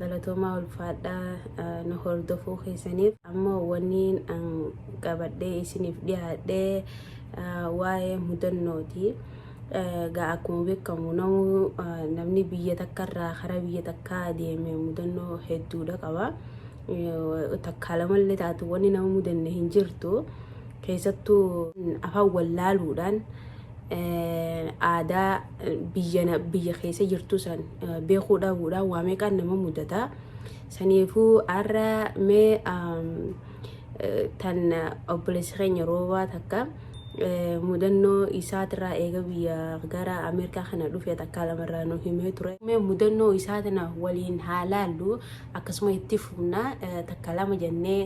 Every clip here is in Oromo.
Galatoomaa ulfaadhaa nu hordofuu keessaniif. Amma wanniin an qabadhee isiniif dhiyaadhee waa'ee mudannooti. Gaa akkuma beekamu namuu namni biyya takkarraa karaa biyya takkaa deeme mudannoo hedduudha qaba. Takkaa lamallee taatu wanni nama mudanne hin jirtu. Keessattuu afaan wallaaluudhaan aadaa biyya biyya keessa jirtu san beekuu dhabuudha waa meeqaan nama mudata saniifuu har'a mee tan obboleessi keenya roobaa takka mudannoo isaatirraa eega biyya gara ameerikaa kana dhufe takkaa lamarraa nu himee ture mee mudannoo isaa tana waliin haa laallu akkasuma itti fufna takka lama jennee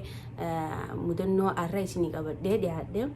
mudannoo har'a isinii qabadhee dhiyaadhe.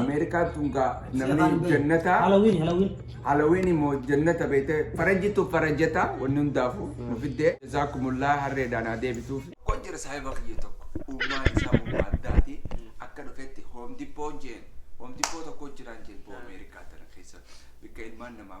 Ameerikaan tun gaa namni jannataa Halloween, Halloween. Halloween immoo jannata beekte farajjitu farajjata wanni hundaafuu nu fiddee jazaakumullaa harreedhaan haa deebisuuf. Kun jira saahiba kiyya tokko uumaa isaa uumaa addaati akka dhufetti hoomdippoon jeen hoomdippoo tokko jiraan jeen boo Ameerikaa tana keessa bakka ilmaan namaa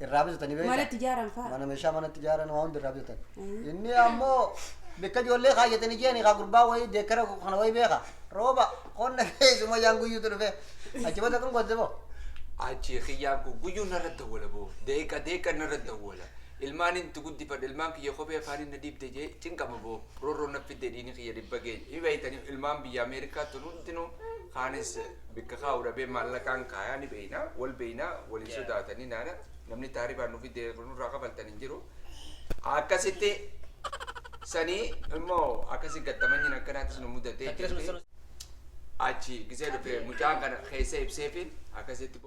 irraa bitatanii beektaa? Manatti ijaaran fa'a. Mana meeshaa manatti ijaaran waa hundi irraa bitatan. Ayii. Inni ammoo bakka ijoollee kaayyatanii jiran kaa gurbaa wayii deekkara kana wayii beeka. Rooba qonna keessuma yaan guyyuutu dhufe. Achi bada kan goote boo. Achi kiyyaan kun guyyuu narra dawwala boo. Deeqa deeqa narra dawwala. Ilmaan inni itti guddifadhe ilmaan kiyya kophee afaanii na dhiibde jee cinqama boo. Rorroo na fidde dhiini kiyya dhibba geenye. Hibeeytanii ilmaan biyya Ameerikaa tun hundinuu kaanis bikka kaa'u dhabee maallaqaan kaayaa ni beeyna wal beeyna waliin sodaatanii naana namni taaribaan nu fidee nurraa kafaltan hin jiru akkasitti sanii immoo akkasi gattamanyiin akkanaatis nu mudatee jirti achi gisee dhufe mucaan kana keessa ibseefi akkasitti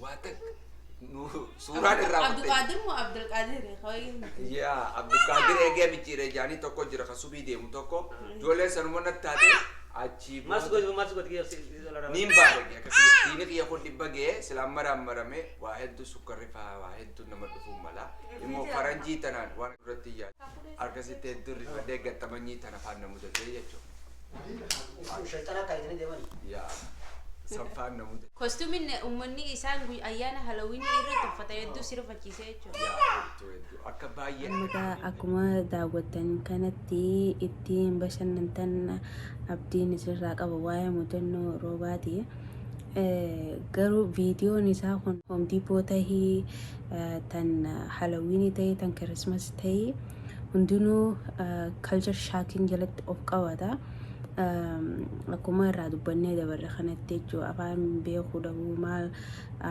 Waa takka nu suuraan irraa wattee. Abduqaadir moo Abdulqaadir ho'iin miti. Yaa Abdulqaadir eegee micciiree jaanii tokko jira kan subii deemu tokko. Ijoolleen sanuma natti taate achii Maal si booda. godhe maal si godhe kiyya si dhala Niin baarage akka kiyya dhiini kiyya kun dhibba ga'ee sila amma raammarame waa hedduu sukkarri faa waa hedduu nama dhufuu mala. Immoo faranjii tanaan waan irratti yaadu. Arkasitti hedduu rifadhee gattamanyii tanafaan na mudatee jechu. Uffuu shayxanaa kaayatanii deemani. Yaa sanfaan na mudate. Kostumin ummanni isaan guy ayyaana halawini irratti uffata hedduu si rifachiise jechuudha. Yaa hedduu hedduu akka baay'ee. Amma gaa akkuma daawwattan kanatti ittiin bashannantan abdiin isinirraa qaba waa'ee mudannoo Roobaati. garuu viidiyoon isaa kun hoomdiipoo tahii tan halawiinii tahii tan kirismas tahii hundinuu kalchar shaakiin jalatti of qabata akkuma irraa dubbannee dabarre kanatti jechuu afaan beekuu dhabuu maal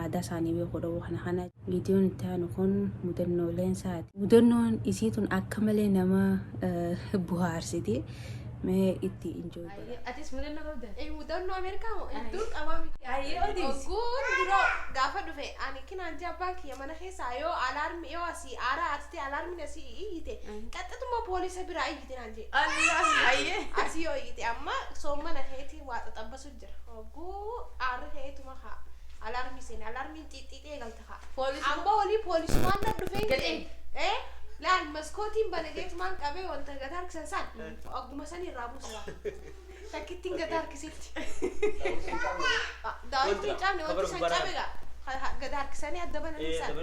aadaa isaanii beekuu dhabuu kana kana viidiyoon itti aanu kun mudannooleen isaati mudannoon isii tun akka malee nama buhaarsiti mee itti injoo Ayyee, atis mudannoo qabda? Ee, mudannoo Ameerikaa moo hedduun qabaa miti. Ayyee, odeessi. Ogguun duroo gaafa dhufe ani kinaan jaa abbaan kiyya mana keessaa yoo alaarmi yoo asii aaraa artee alaarmiin asii iyyite qaxxatuma poolisa biraa iyyite naan jee. Allah, ayyee. Asii yoo iyyite amma soommana keetii waa xaxabbasu jira. Ogguu aarri keetuma haa alaarmii seene alaarmiin xiixxiixee galta. Amma olii poolisumaan na dhufee jedhe. Laal maskootiin banageetumaan qabee wanta gata harkisan saan agguma sanii irraa buusa. Takkittiin gata harkisetti. Daawwitiin hin cabne wanti san cabe gaa. Gata harkisanii adda bananii san.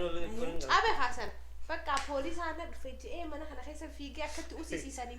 Cabe haasan. Bakka poolisaan na dhufe jedhee mana kana keessa fiigee akkatti usisiisanii.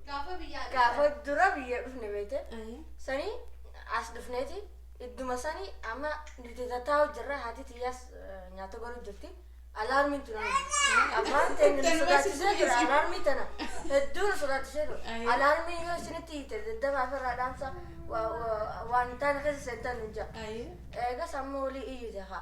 Gaafa biyyaa gaafa dhuftan. dura biyya dhufne beekte Ayi. sanii as dhufneeti idduma sanii amma nuti tattaa'u jirra haati tiyyaas eh, nyaata godhu jirti alaarmiin tun amma abbaan ta'e nu sodaachisee ture alaarmii tana hedduu nu sodaachisee ture Ayi. alaarmiin yoo isinitti hiite daddafaa fi irraa dhaamsa wa- wa- waan hin taane keessa seentan nu ja'a Ayi. eegas amma olii iyyu jaha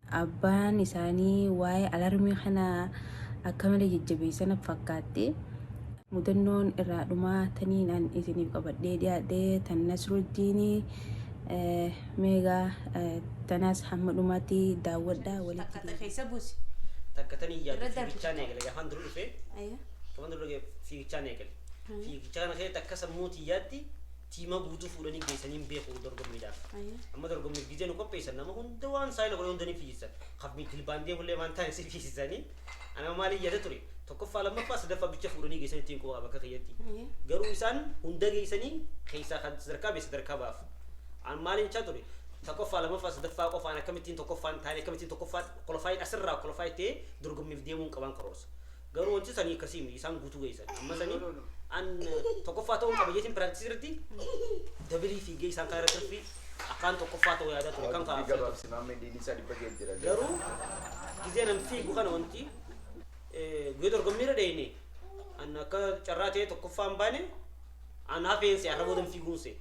Abbaan isaanii waa'ee alarmii kanaa akka malee jajjabeessa natti fakkaatte. Mudannoon irraa dhumaa taniin an isiniif qabadhee dhiyaadhe tan Nasruddiini. Meegaa tanaas hamma dhumaatti daawwadha. Walitti Takka deebiin. keessa buusi. Takka tan hin yaadu Irra darbi fiigichaan takka. eegale gaafaan dura dhufe Ayya. gaafaan dura dhufe fiigichaan eegale. Fiigicha kana keessa takka sammuu tiyyaatti Tiima guutuu fuudhanii geessanii hin beeku dorgommiidhaaf. Ayyee. Amma dorgommiif gizee nu qopheessan nama hunda waan saayila godhe hunda ni fiigsisan. Kan jilbaandee hullee waan taane si fiigsisanii. Ana maaliin yaada ture. Tokkoffaa lammaffaa sadaffaa bicha fuudhanii geessan ittiin quba qaba akka kiyyatti. Ayyee. Garuu isaan hunda geessanii keessaa kan sadarkaa beessa sadarkaa baaf. An maaliin jechaa ture. Tokkoffaa lammaffaa sadaffaa qofaan akkamittiin tokkoffaan taane akkamittiin tokkoffaan kolofaayin asirraa kolofaayi ta'ee dorgommiif deemuun qabaan karoorsa. Garuu wanti sanii akkasii miti isaan guutuu geessan. Amma No, sanii no, no. an tokkoffaa ta'uun qaba jeetiin piraaktisii irratti dabilii fiigee isaan kaan irratti ruffii akkaan tokkoffaa ta'uu yaadaa ture kan Dubbii kaa'aaf. gabaabsi maammee diinii isaa dhibba ga'e jira. Garuu gizee nan fiigu kana wanti eh, guyyaa dorgommii irra dheenye an akka carraa ta'ee tokkoffaa hin baane An hafeen se arraboo damfii guun se.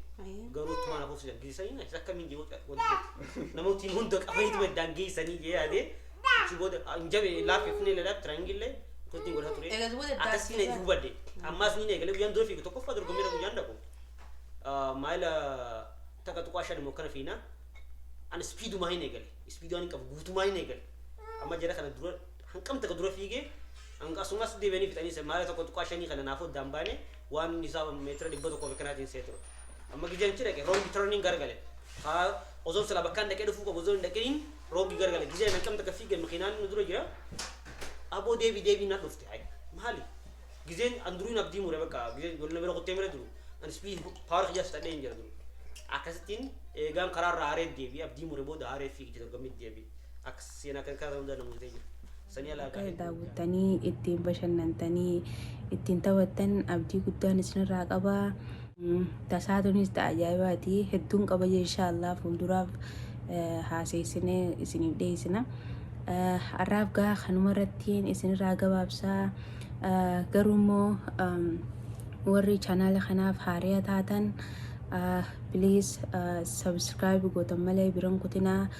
Garuu tumaan afuuf sidan geessanii na isa akkamiin jee wanti namooti hunda qabanii tuma iddaan geessanii jee yaadee achi booda hin jabe laafee finee lalaa tiraangillee akkasitti godhaa ture. Egaa duwwaa daddaa Akkasii na jiru. hubadde. Ammaas ni eegalee guyyaan dura fiigu tokkoffaa dorgommeera guyyaan dhaqu. Maayila takka tuqaa shan immoo kana fiina. Ani ispiidumaa hin eegale. Ispiiduu ani qabu guutumaa hin eegale. Amma jara kana dura hanqam takka dura fiigee hanga asumas deebi'anii fixanii maayila tokko tuqaa shanii kana naaf oddaan baanee Waan inni isaa meetira dhibba tokkoo fi kanaatiin seetu. Amma gizeen achi dhaqe roongi turning gargale. Haa osoon silaa bakkaan dhaqee dhufuu qabu osoo hin dhaqiniin roongi gargale. Gizeen akkam takka fiige makiinaan nu dura jira. Aboo deebi deebi na dhufte. Ay maali? Gizeen an duruu hin abdii mure bakka gizeen wal na bira kuttee mire duru. An speed power kiyyaa fixadhee hin jira duru. Akkasittiin eegaan karaarraa haaree deebi abdii mure booda haaree fiigde dorgommii deebi. Seenaa kan kaasan hundaan na mudatee jira. Sanii alaa egaa Akka hedduu hojjaa. daawwattanii ittiin bashannantanii ittiin taphattan abdii guddaan isinirraa qaba. Mm, Tasaa tunis ta'a ajaa'ibaati. Hedduun qaba jee inshaallah fuulduraaf eh, haaseessinee isiniif dhiyeessina. Eh, Har'aaf gaa kanuma irrattiin isinirraa gabaabsaa. Eh, Garuu immoo em, warri chaanaala kanaaf haaraa taatan please subscribe gootan malee biran kutinaa